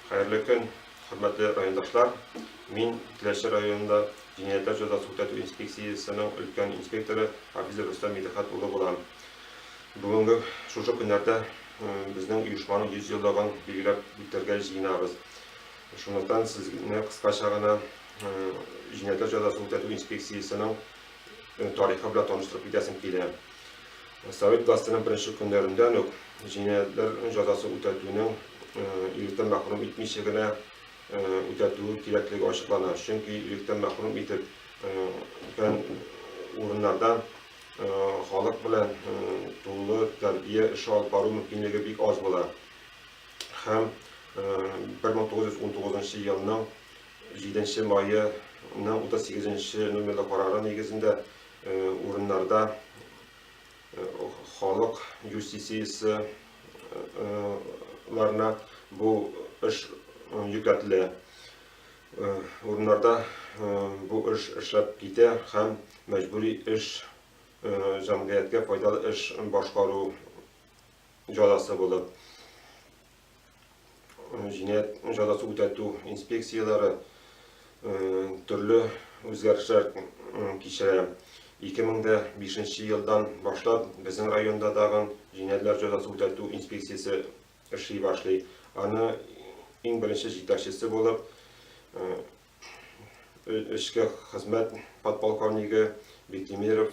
Хәерле көн, хөрмәтле райондашлар. Мин Теләче районында җинаятьләр җәзасын үтәтү инспекциясенең өлкән инспекторы Хафиз Рөстәм Мидхәт улы булам. Бүгенге шушы көннәрдә безнең оешманың 100 еллыгын билгеләп үтәргә җыенабыз. Шунлыктан сезне кыскача гына җинаятьләр җәзасын үтәтү инспекциясенең тарихы белән таныштырып китәсем килә. Совет властенең беренче көннәрендән үк җинаятьләр җәзасын үтәтүнең иректән мәхрүм итмичә генә үтәтүе кирәклеге ачыклана. Чөнки иректән мәхрүм итеп фән урыннарда халык белән тулы тәрбия эше алып бару мөмкинлеге бик аз була. Һәм 1919 елның Җиденче мае ның утыз сигезенче номерлы карары нигезендә урыннарда халык юстициясе ларына бу эш йөкләтелә. Урыннарда бу эш эшләп китә һәм мәҗбүри эш җәмгыятькә файдалы эш башкару җәзасы булып. җинаять җәзасы үтәтү инспекцияләре төрле үзгәрешләр кичерә. 2005 елдан башлап безнең районда тагын җинаятьләр җәзасы үтәтү инспекциясе эшли башлый. Аны иң беренче җитәкчесе булып эшкә хезмәт подполковнигы Бектимиров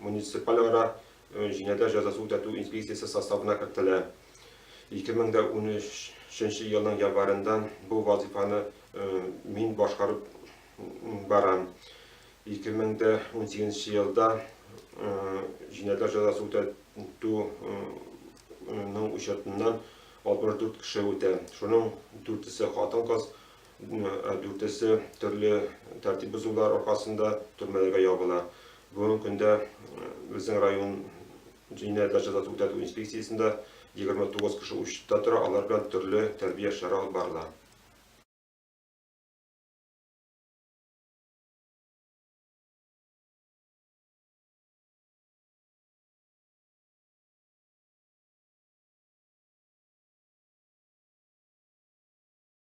муниципальара җинаятьләр җәзасы үтәтү инспекциясе составына кертелә. 2013 елның январенда бу вазыйфаны мин башкарып барам. 2018 елда җинаятьләр җәзасы үтәтүнең учетыннан 64 кеше үтә. Шуның дүртесе хатын-кыз, Ә дүртесе төрле тәртип бозулар аркасында төрмәләргә ябыла. Бүгенге көндә безнең район җинаять җәзасын үтәтү инспекциясендә 29 кеше учетта тора, алар белән төрле тәрбия эшләре алып барыла.